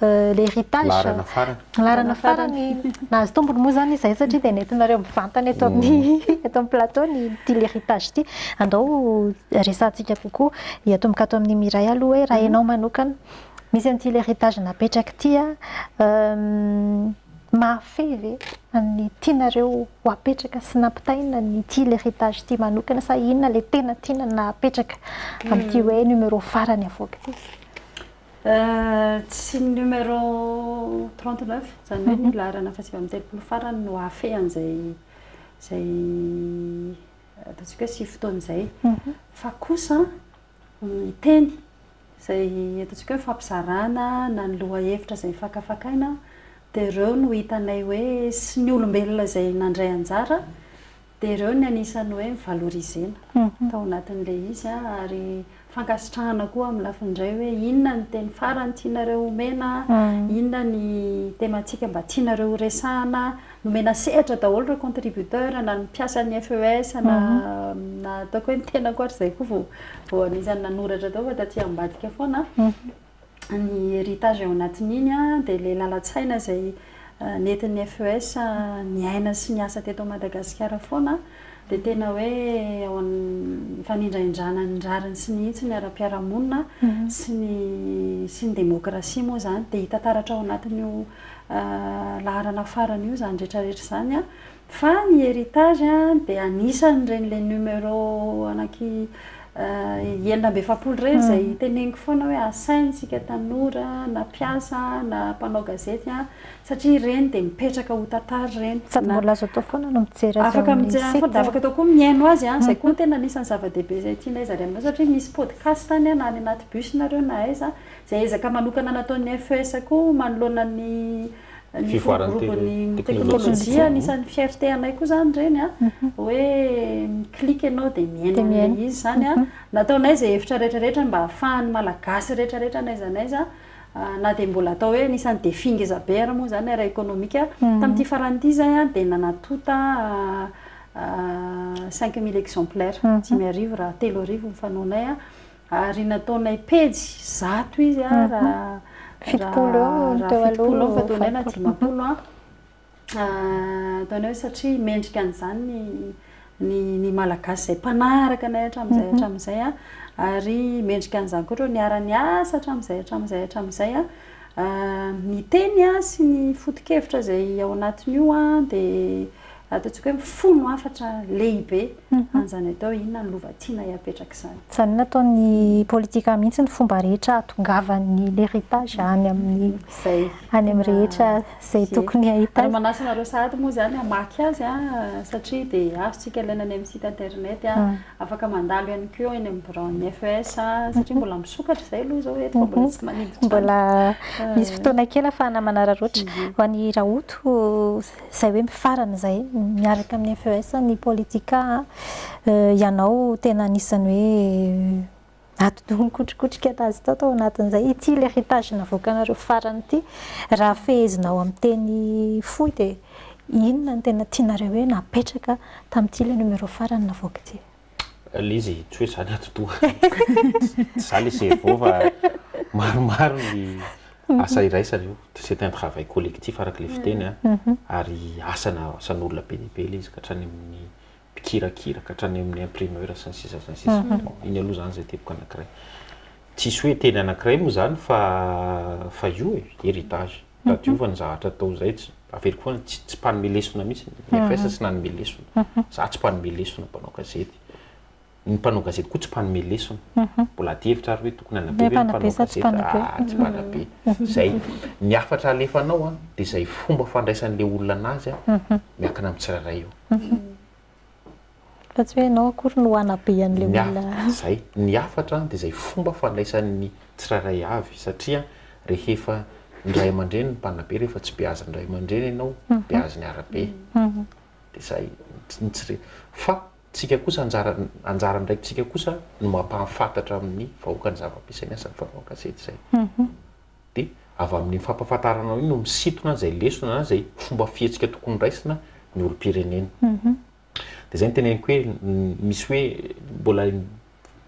L'héritage, laharana farany, laharana farany nahazo tombony moa izany izahay satria dia nentinareo mivantana eto amin'ny eto amin'ny plateau ny ity l'héritage ity. Andao resahantsika kokoa, hiatomboka ato amin'i Mireille aloha hoe raha ianao manokana, misy an'ity l'héritage napetraka ity an, mahafehy ve ny tianareo ho apetraka sy nampitaina an'ity l'héritage ity manokana sa inona ilay tena tiana napetraka amin'ity hoe numéro farany avoaka ity? Tsy ny numéro trente neuf, izany hoe ny laharana fahasivy amby telopolo farany no hahafehana izay izay ataontsika hoe sivy fotoana izay. Fa kosa ny teny izay ataontsika hoe fampizarana na ny lohahevitra izay fakafakaina dia ireo no hitanay hoe sy ny olombelona izay nandray anjara Dia ireo ny anisan'ny hoe mi-valorisena tao anatin'ilay izy ary fankasitrahana koa amin'ny lafiny indray hoe inona ny teny farany tianareo homena, inona ny tematika mba tianareo ho resahana. Nomena sehatra daholo ireo contributeurs na ny mpiasan'ny FES na na ataoko hoe ny tenako ary izay koa vao vao anisan'ny nanoratra tao fa taty ambadika foana. ny héritage ao anatin'iny dia ilay lalan-tsaina izay nentin'ny FES niaina sy niasa teto Madagasikara foana dia tena hoe ao amin'ny fanindrahindrana ny rariny sy ny hitsiny ara-piarahamonina sy ny sy ny demokrasia moa izany dia hita taratra ao anatin'io laharana farany io izany rehetra rehetra izany Fa ny héritage dia anisan'ireny ilay numéro anaky enina amby efapolo ireny izay teneniko foana hoe asaina isika tanora na mpiasa na mpanao gazety satria ireny dia mipetraka ho tantara ireny. Sady mbola azo atao foana no mijery azy ao amin'ny site. Dia afaka atao koa ny mihaino azy. Izay koa no tena anisan'ny zava-dehibe izay tianay zary aminareo satria misy podcast any na any anaty bus nareo na aiza izay ezaka manokana nataon'ny FES koa manoloana ny ny fivoaran'ny teknolojia anisan'ny fierté anay koa zany ireny a hoe mi-clique ianao dia miaina an'ilay izy izany a nataonay izay hevitra rehetrarehetra mba hahafahan'ny malagasy rehetrarehetra n'aiza n'aiza na dia mbola atao hoe anisan'ny défi ngeza be ary moa izany ara économique tamin'ity farany ity izay a dia nanatonta cinq mille exemplaires dimy arivo raha telo arivo ny fanaonay a Ary nataonay pejy zato izy raha raha fitopolo eo fa ataonay na dimampolo an! Ataonay satria mendrika an'izany ny ny Malagasy izay mpanaraka anay hatramin'izay hatramin'izay an! Ary mendrika an'izany koa ohatrany niara-niasa hatramin'izay hatramin'izay hatramin'izay an! Ny teny sy ny foto-kevitra izay ao anatin'io an dia ataontsika hoe mifono hafatra lehibe an'izany atao hoe inona ny lova tianay hapetraka izany. Izany nataon'ny politika mihitsy ny fomba rehetra hahatongavan'ny l'héritage any amin'ny any amin'ny rehetra izay tokony hahita azy. Ary manasa anareo sahady moa izany hamaky azy satria dia azontsika alaina any amin'ny site internet, afaka mandalo ihany koa eny amin'ny biraon'ny FES satria mbola misokatra izay aloha izao eto fa mbola tsy maniditra any. Mbola misy fotoana kely ahafahana manararaotra. Ho an'i Rahoto? izay hoe mifarana izay miaraka amin'ny FES ny politika a, ianao tena anisan'ny hoe atidoha nikotrikotrika azy tao tao anatin'izay, ity l'héritage navoakanareo farany ity, raha fehezinao amin'ny teny fohy dia inona no tena tianareo hoe napetraka tamin'ity le numéro farany navoaka ity? Ilay izy tsy hoe izany atidoha. Tsy za ilay cerveau fa maromaro ny asa iraisana io. C'est un travail collectif araka ilay fiteny an. Ary asana, asan'olona be dia be ilay izy ka hatrany amin'ny mpikirakira ka hatrany amin'ny imprimeur sy ny sisa sy ny sisa. Iny aloha izany izay teboka anankiray. Tsisy hoe teny anankiray moa izany fa fa io e, heritage. Raha diovina ny zavatra atao izay, tsy, averiko foana, tsy, tsy mpanome lesona mihitsy ny IFS tsy nanome lesona. Izaho tsy mpanome lesona, mpanao gazety. Ny mpanao gazety koa tsy mpanome lesona. Mbola adihevitra ary hoe tokony hanabe ve ny mpanao gazety? Ah, tsy mpanabe. Izay. Ny hafatra alefanao an, dia izay fomba fandraisan'ilay olona anazy an, miankina amin'ny tsirairay io. Fa tsy hoe ianao akory no hanabe an'ilay Ny olona. hafatra izay, ny hafatra dia izay fomba fandraisan'ny tsirairay avy satria rehefa ny ray aman-dreny no mpanabe, rehefa tsy beazin' ny ray aman-dreny ianao, beaziny arabe. Dia izay ny tsy re. Fa tsika kosa anjara anjara andraikitsika kosa no mampahafantatra amin'ny vahoaka ny zava-misy, izay ny asan'ny fanao an-gazety izay. dia avy amin'iny fampahafantarana iny no misintona izay lesona na izay fomba fihetsika tokony raisina ny olom-pirenena. Dia izay no teneniko hoe misy hoe mbola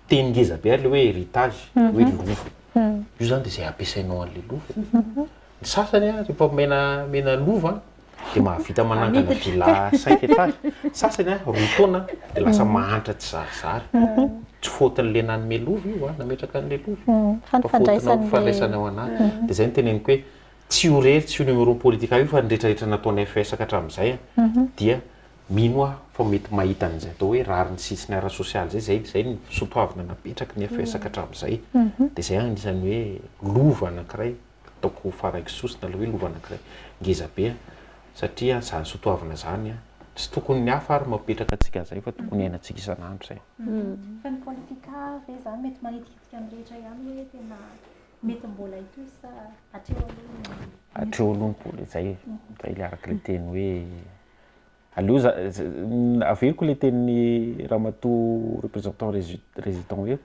teny ngeza be ary ilay hoe héritage, hoe lova. Io izany dia izay ampiasainao an'ilay lova e. Ny sasany an, rehefa omena lova an. dia mahavita manangana villa cinq étages, ny sasany an, roa taona dia lasa mahantra tsy zarizary, tsy faute-n'ilay nanome lova io an, nametraka an'ilay lova, fa faute-nao ny fandraisana ao anaty, dia izay no teneniko hoe tsy io irery, tsy io numéro politika io fa ny retraretra nataon'ny FES ka hatramin'izay an, dia mino aho fa mety mahita an'izay atao hoe rariny sisiny ara-sosialy izay, izay izay no soatoavina napetraky ny FES ka hatramin'izay, dia izay an, anisan'ny hoe lova anankiray. ataoko ho faraiko sosona ilay hoe lova anankiray ngeza be satria izany sotoavina izany an, tsy tokony ny hafa ary no mapetraka antsika an'izay fa tokony hiainantsika isan'andro izay. Fa ny politika ve izany mety manitikitika ny rehetra ihany hoe tena mety mbola hitohy sa hatreo aloha ny. Hatreo aloha ny politika, izay e, izay ilay araka ilay teny hoe Aleo za averiko le tenin'i ramatoa représentant résident hoe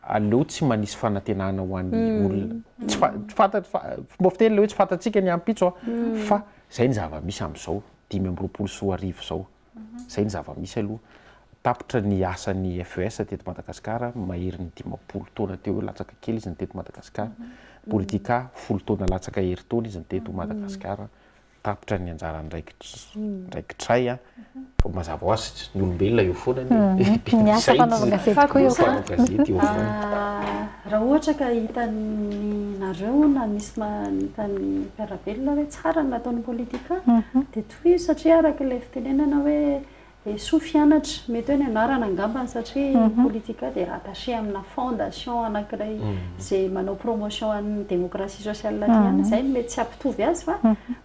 aleo tsy manisy fanantenana ho an'ny olona. Tsy fantatro fa fomba fiteny le hoe tsy fantatsika ny ampitso fa zay ny zava-misy am'zao dimy amby roapolo sy roa arivo zao. Zay ny zava-misy aloha. Tapitra ny asan'ny FES teto Madagasikara maherin'ny dimampolo taona teo eo latsaka kely izy ny teto Madagasikara. Politika folo taona latsaka herintaona izy ny teto Madagasikara. tapitra ny anjarany raikitray a fa mazava ho azy ny olombelona eo foana anie mety miasa mpanao gazety koa eo mpanao gazety eo foana raha ohatra ka hitan'ny nareo na misy hitan'ny mpiara-belona hoe tsara ny nataon'ny politika dia tohizo satria araka ilay fitenenana hoe Esoa Fianatra, mety hoe ny anarana angambany satria Politika dia rattaché amina fondation anankiray izay manao promotion an'ny démocratie sociale aty ihany, izay no mety tsy hampitovy azy fa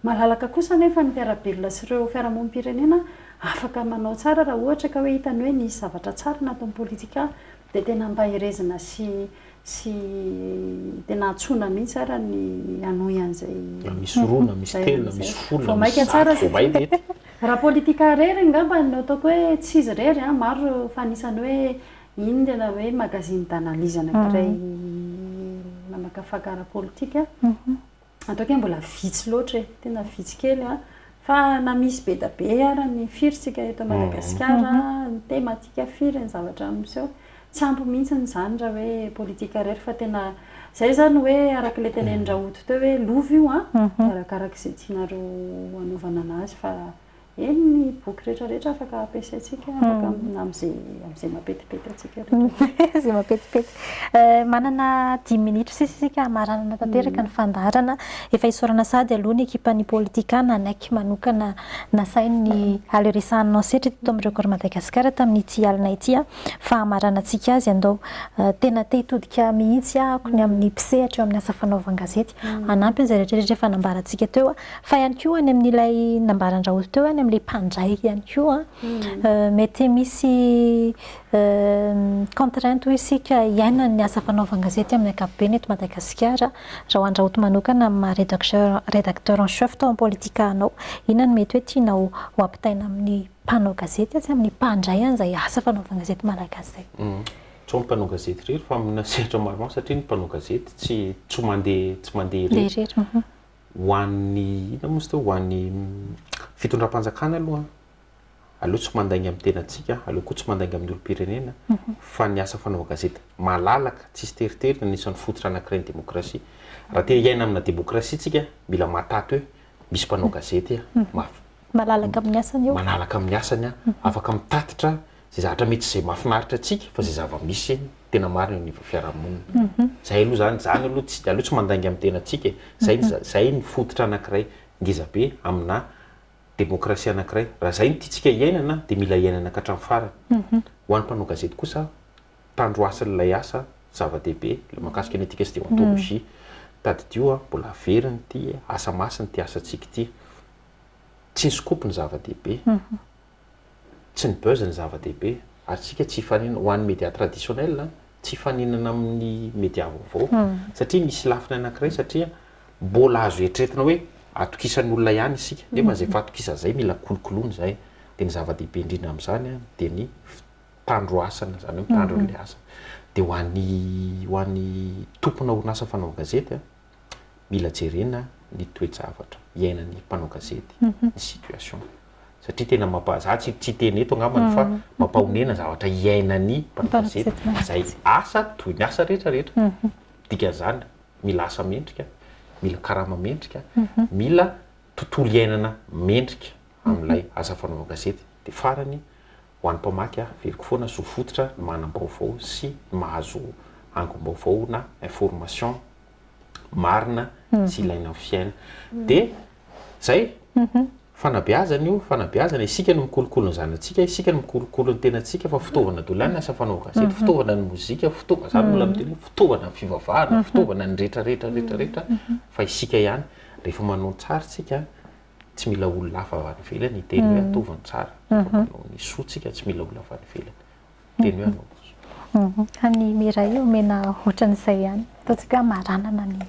malalaka kosa anefa ny mpiara-belona sy ireo fiarahamonim-pirenena afaka manao tsara raha ohatra ka hoe hitany hoe nisy zavatra tsara nataon'i Politika. Dia tena ampaherezina sy sy tena antsoina mihitsy ara ny hanohy an'izay. Na misy roa, na misy telo, na misy folo, na misy zato, vao may dia ety. Raha politika irery angamba no ataoko hoe tsy izy irery an, maro fa anisan'ny hoe iny ny tena hoe magazine d'analyse anankiray mamakafaka ara-politika. Ataoko hoe mbola vitsy loatra e, tena vitsy kely an, fa na misy be dia be ara ny firy tsika eto Madagasikara, ny tematika firy ny zavatra miseho, tsy ampy mihitsy izany raha hoe politika irery fa tena, izay izany hoe araka ilay tenenin-dRaoto teo hoe lova io an, dia arakaraka izay tianareo hanaovana an'azy fa. Eny, ny boky rehetra rehetra afaka ampiasaintsika afaka amina amin'izay amin'izay mapetipety antsika rehetra. Izay mapetipety. Manana dimy minitra sisa isika hamaranana tanteraka ny fandaharana. Efa isaorana sahady aloha ny ekipan'ny Politika nanaiky manokana nasainy ny haleresahan'ny Nao Setra teto amin'ny Record Madagascar tamin'ity alina ity fa hamaranantsika azy. Andao, tena te hitodika mihitsy aho ny amin'ny mpisehatra eo amin'ny asa fanaovan-gazety. hanampy an'izay rehetra rehetra efa nambarantsika teo a, fa ihany koa any amin'ilay nambaran-dRaozy teo any amin'ilay mpandray ihany koa a, mety misy contraintes hoy isika iainan'ny asa fanaovan-gazety amin'ny ankapobeny eto Madagasikara, raha ho an-dRaoty manokana amin'ny maha rédacteur rédacteur en chef tao amin'ny Politika anao, inona no mety hoe tianao ho ampitaina amin'ny mpanao gazety sy amin'ny mpandray an'izay asa fanaovan-gazety malagasy izay? Tsao ny mpanao gazety irery fa amina sehatra maromaro satria ny mpanao gazety tsy tsy mandeha tsy mandeha irery. Ho an'ny inona moa izy teo ho an'ny fitondram-panjakana aloha aleo tsy mandainga amin'ny tenantsika, aleo koa tsy mandainga amin'ny olom-pirenena fa ny asa fanaovana gazety malalaka tsisy teritery no anisan'ny fototra anankiray ny demokrasia. Raha te hiaina amina demokrasia isika mila mahataty hoe misy mpanao gazety mafy. Malalaka amin'ny asany eo. Manalaka amin'ny asany aho, afaka mitatitra izay zavatra mety izay mahafinaritra antsika fa izay zava-misy tena marina eo anivon'ny fiarahamonina. Izay aloha izany, izany aloha tsy, aleo tsy mandainga amin'ny tenantsika e. Izay ny, izay ny fototra anankiray ngeza be aminà demokrasia anankiray. Raha izay no tiantsika hiainana dia mila hiainana ka hatramin'ny farany. Ho an'ny mpanao gazety kosa, tandroasin'ilay asa zava-dehibe ilay mahakasika ny éthique sy déontologie. Tadidio a, mbola very ity asa masina ity asantsika ity. Tsy ny scoop no zava-dehibe, tsy ny buzz no zava-dehibe, ary isika tsy hifaninana, ho an'ny media traditionnel an, tsy hifaninana amin'ny media vaovao, satria misy lafiny anankiray satria mbola azo eritreretina hoe atokisan'ny olona ihany isika, nefa izay fahatokisana izay mila kolokoloina izay, dia ny zava-dehibe indrindra amin'izany an dia ny mpitandro asana, izany hoe mitandro an'ilay asa, dia ho an'ny ho an'ny tomponà orinasa fanaovan-gazety an. mila jerena ny toe-javatra iainan'ny mpanao gazety, ny situation. Satria tena mampa, za tsy tsy hiteny eto angambany fa mampahonena zavatra iainan'ny mpanao gazety izay asa toy ny asa rehetra rehetra. Dikan'izany mila asa mendrika, mila karama mendrika, mila tontolo iainana mendrika amin'ilay asa fanaovana gazety. Dia farany, Ho an'ny mpamaky aveliko foana zo fototra ny manam-baovao sy ny mahazo angom-baovao na information marina sy ilaina amin'ny fiaina. Dia izay, fanabeazana io, fanabeazana, isika no mikolokolo ny zanatsika, isika no mikolokolo ny tenantsika fa fitaovana daholo ihany ny asa fanaovana gazety, fitaovana ny mozika, fitaovana, za mbola miteny hoe fitaovana ny fivavahana, fitaovana ny rehetra rehetra rehetra rehetra fa isika ihany rehefa manao ny tsary tsika tsy mila olona hafa avy any ivelany hiteny hoe ataovy ny tsara fa manao ny soantsika tsy mila olona avy any ivelany hiteny hoe anaovy ny soa. Any Mireille omena ohatran'izay ihany ataontsika hoe hamaranana ny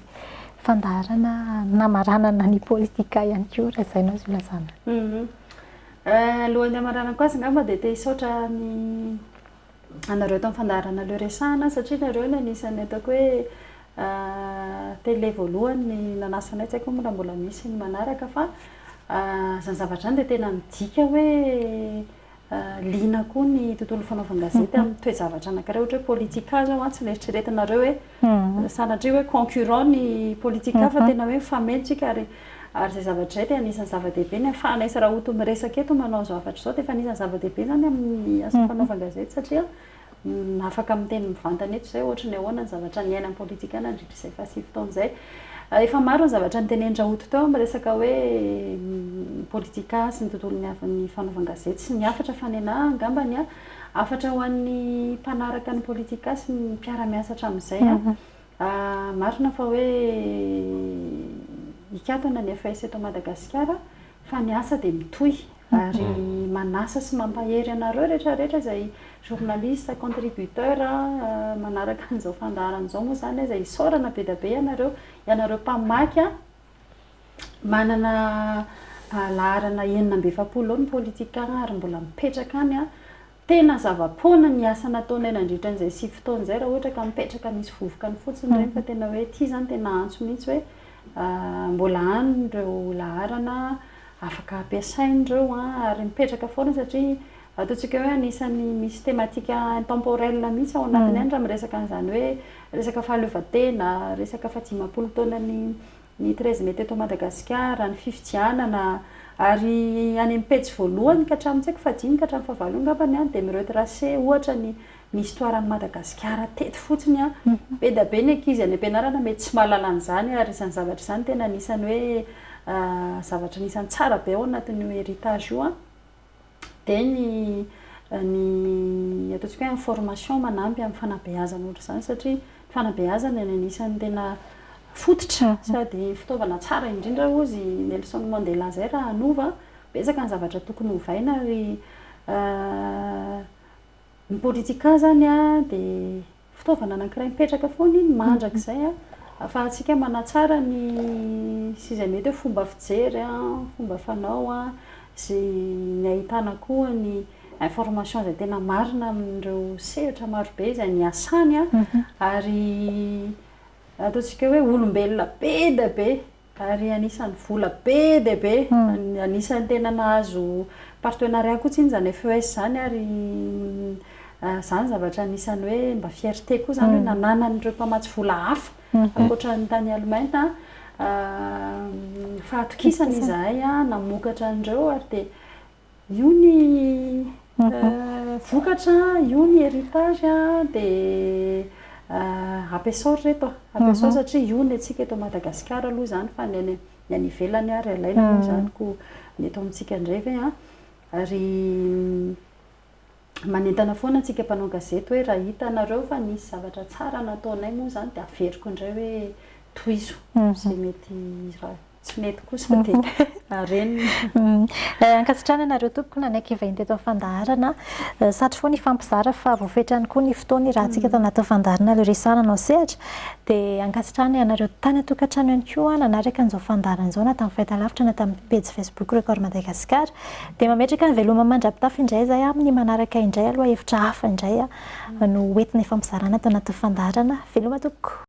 fandaharana hamaranana ny politika ihany koa raha izay no azo ilazana. Alohan'ny hamaranako azy angamba dia te hisaotra ny anareo tamin'ny fandaharana Le Resahana satria nareo no anisan'ny ataoko hoe télé voalohany nanasa anay, tsy haiko moa raha mbola misy ny manaraka fa izany zavatra izany dia tena midika hoe liana koa ny tontolon'ny fanaovan-gazety amin'ny toe-javatra anankiray ohatra hoe politika izao an, tsy neritreretinareo hoe. Sanatria hoe concurrent ny politika fa tena hoe mifameno tsika ary ary izay zavatra izay dia anisan'ny zava-dehibe. Ny hahafahana isy rahoto miresaka eto manao izao hafatra izao dia efa anisan'ny zava-dehibe izany amin'ny asa fanaovan-gazety satria afaka miteny mivantana eto izay ohatry ny ahoana ny zavatra niaina ny politika nandritra izay fahasivy taona izay. Efa maro ny zavatra niteneny rahoto teo amin'ny resaka hoe politika sy ny tontolon'ny fanaovan-gazety sy ny hafatra fa ny ahy angambany an, Hafatra ho an'ny mpanaraka ny politika sy ny mpiara-miasa hatramin'izay an, marina fa hoe hikatona ny FAES eto Madagasikara fa ny asa dia mitohy ary manasa sy mampahery anareo rehetra rehetra izay journaliste, contributeur manaraka an'izao fandaharana izao moa izany aza isaorana be dia be ianareo, ianareo mpamaky an! Manana laharana enina amby efapolo eo ny politikan ary mbola mipetraka any an, tena zava-poana ny asa nataonay nandritra an'izay sivy taona izay raha ohatra ka mipetraka misy vovoka any fotsiny ireny fa tena hoe ity izany tena antso mihintsy hoe mbola any ireo laharana afaka ampiasaina ireo an, ary mipetraka foana satria Ataontsika hoe anisan'ny misy thématique intemporelle mihitsy ao anatiny any raha miresaka an'izany hoe resaka fahaleovantena, resaka fahadimampolo taonan'ny ny treize mai teto Madagasikara, ny fifidianana, ary any amin'ny pejy voalohany ka hatramin'ny tsy haiko fahadimy ka hatramin'ny fahavalo eo angamba ny any dia mi-retracer ohatra ny ny histoire an'i Madagasikara teto fotsiny an! be dia be ny ankizy any am-pianarana mety tsy mahalala an'izany ary izany zavatra izany tena anisan'ny hoe zavatra anisan'ny tsara be ao anatin'io héritage io an! Dia ny ny ataontsika hoe information manampy amin'ny fanabeazana ohatr'izany satria ny fanabeazana no anisan'ny tena fototra sady fitaovana tsara indrindra hozy i Nelson Mandela izay raha hanova betsaka ny zavatra tokony hovaina ary ny politika izany dia Fitaovana anankiray mipetraka foana iny mandrakizay afahantsika manatsara ny sy izay mety hoe fomba fijery, fomba fanao, izay ny ahitana koa ny information izay tena marina amin'ireo sehatra marobe izay niasany ary ataontsika hoe olombelona be dia be. Ary anisan'ny vola be dia be, anisan'ny tena nahazo partenariat koa tsinona izany FES izany ary izany zavatra anisan'ny hoe mba fierté koa izany hoe nananan'ireo mpamatsy vola hafa ankoatra ny tany Allemagne fahatokisana izahay namokatra an'ireo ary dia Io ny vokatra, io ny heritage dia ampiasao ry reto a, ampiasao satria io ny antsika eto Madagasikara aloha izany fa ny any ny any ivelany ary alaina moa izany koa ny eto amintsika indray ve an? Ary Manentana foana antsika mpanao gazety hoe raha hitanareo fa nisy zavatra tsara nataonay moa izany dia averiko indray hoe tohizo izay mety raha tsy mety kosa dia renina. Ankasitrahana anareo tompoko nanaiky hivahiny teto amin'ny fandaharana. Satry foana hifampizara fa voafetra ihany koa ny fotoana hiarahantsika eto anatin'ny fandaharana ilay resahana anao sehatra. Dia ankasitrahana ianareo tany an-tokantrano ihany koa nanaraka an'izao fandaharana izao na tamin'ny fahitalavitra na tamin'ny pejy Facebook Record Madagascar. Dia mametraka ny veloma mandra-pitafy indray izay amin'ny manaraka indray aloha hevitra hafa indray no ho entina ifampizarana ato anatin'ny fandaharana Veloma tompoko.